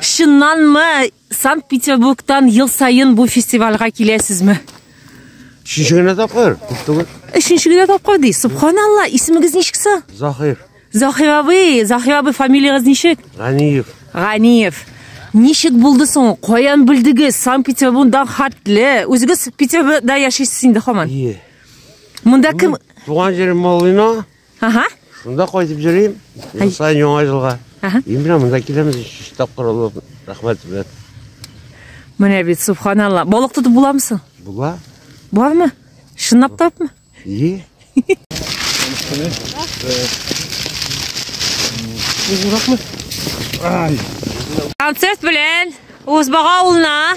Чыннан мы Санкт-Петербургтан ел сайын бу фестивальга киләсезме? Өченче генә тапкыр, күп түгел. Өченче генә тапкыр ди. Субханалла, исемегез ничек соң? Захир. Захир абый, Захир абый фамилиягез ничек? Ганиев. Ганиев. Ничек булды соң? Каян белдегез? Санкт-Петербургдан хәтле. Үзегез Петербургда яшисез инде хаман. Ие. Монда кем? Туган җирем Малыйна, Ага. Шунда кайтып йөрим. Ел саен яңа елга. Ага. И менә монда киләбез өч тапкыр алып. Рәхмәт белән. Менә бит субханалла. Балык тотып буламы соң? Була. Бармы? Чынлап тапмы? И. Концерт белән Узбага авылына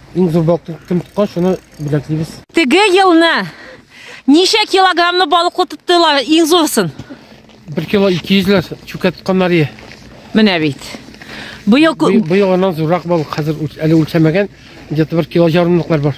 Иң зур балыкны кем тоткан, шуны бүләклибез. Теге елны ничә килограммлы балыклы тоттылар иң зурсын? 1 кило 200 ләр чүкә тотканнар ие. Менә бит. Быел Быел аннан зуррак балык хәзер әле үлчәмәгән, где-то 1 кило ярымлыклар бар.